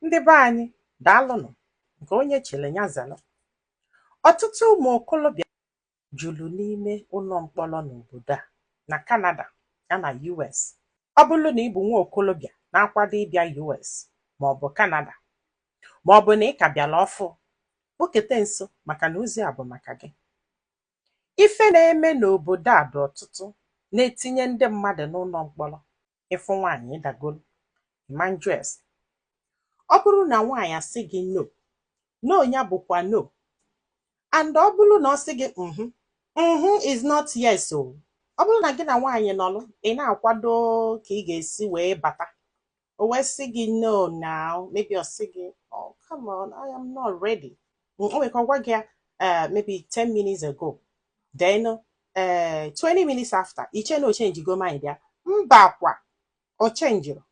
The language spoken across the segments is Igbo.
Ndị be anyị, daalụnụ nke onye chiri ya zara. Ọtụtụ ụmụ okolobịa juru n'ime ụlọ mkpọrọ n'obodo a, na Kanada, ya na US. Ọ bụrụ na ị bụ nwa okolobịa na-akwado ịbịa US ma ọ bụ Kanada, ma ọ bụ na ị ka bịara ọfụ, kpukete nso maka na ozi a bụ maka gị. Ife na-eme n'obodo a dị ọtụtụ na-etinye ndị mmadụ n'ụlọ mkpọrọ. ị fụ nwaanyị ị dagolu ị ma njụ ese ọ bụrụ na nwaanyị asị gị no no ya bụkwa no and ọ bụrụ na ọ sị gị mhm mhm is not yes o ọ bụrụ na gị na nwaanyị nọlụ ị na-akwado ka ị ga-esi wee bata o wee sị gị no now maybe ọ sị gị oh come on I am not ready o nwere ka ọ gwa gị ya eh, maybe 10 minutes ago then eh, 20 minutes after i chee na o chenjigo mind ya mba kwa o chenjirọ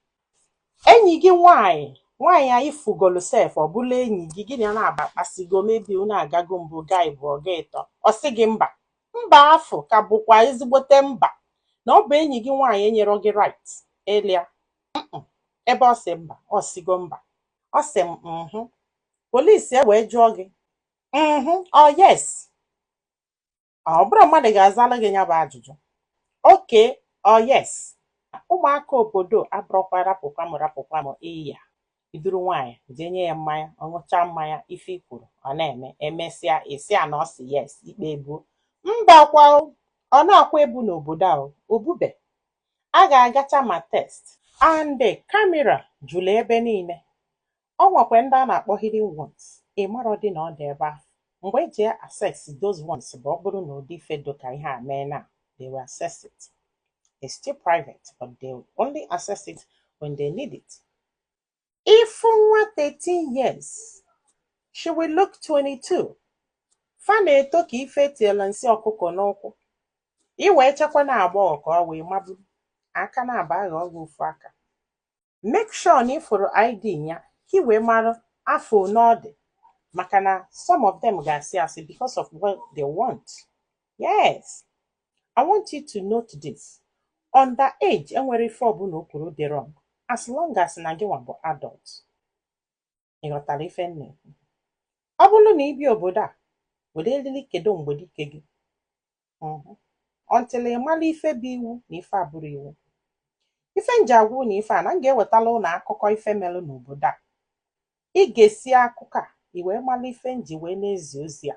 enyi gị nwanyị nwanyị anyị fụgolu sef ọ bụla enyi gị gị na ya na-agba kpasigo maybe unu agago mbụ gaa ịbụọ gaa ịtọ ọ sị gị mba mba afụ ka bụkwa ezigbote mba na ọ bụ enyi gị nwaanyị enyerọ gị right elia ebe ọ sị mba ọ sịgo mba ọ sị mhm polisi e wee jụọ gị mhm ọ yes ọ bụrọ mmadụ ga-azala gị ya bụ ajụjụ okay ọ yes ụmụaka obodo a abụrọkwa rapụkwa m rapụkwa m ị ya-eduru nwaanyị jee nye ya mmanya ọ ṅụchaa mmanya ife i kwuru ọ na-eme e mesịa ị sị na ọ sị yes ikpe ebuo mba kwa ọ na-akwa ebu n'obodo a o bube a ga-agacha ma test and kamera juru ebe niile ọ nwekwa ndị a na-akpọ hidden ones ị marọdị na ọ dị ebe ahụ mgbe e ji access those ones bụ ọ bụrụ na ụdị ife dị ka ihe a mee na they will access it it's still private but they will only access it when they need it ị fụ nwa 13 years she will look 22 fa na-eto ka ife e tielu nsị ọkụkọ n'ukwu i wee chekwa na agbọghọ ka ọ wee maburu aka na-aba agha ọgwụ ofu aka make sure na ị fụrụ ID ya ka ị wee mara afọ one ọ dị maka na some of them ga-asị asị because of what they want yes I want you to note this under age enwerọ ife ọbụla o kwuru dị wrong as long as na gị nwa bụ adult ị ghọtara ife m na-ekwu ọ bụrụ na ị bịa obodo a were eriri kedo mgbedike gị Mhm. until ị mara ife bụ iwu na ife abụrọ iwu ife nji agwa unu ife a na m ga-ewetala unu akụkọ ife mere n'obodo a ị ga-esi akụkọ a i wee mara ife nji wee na-ezi ozi a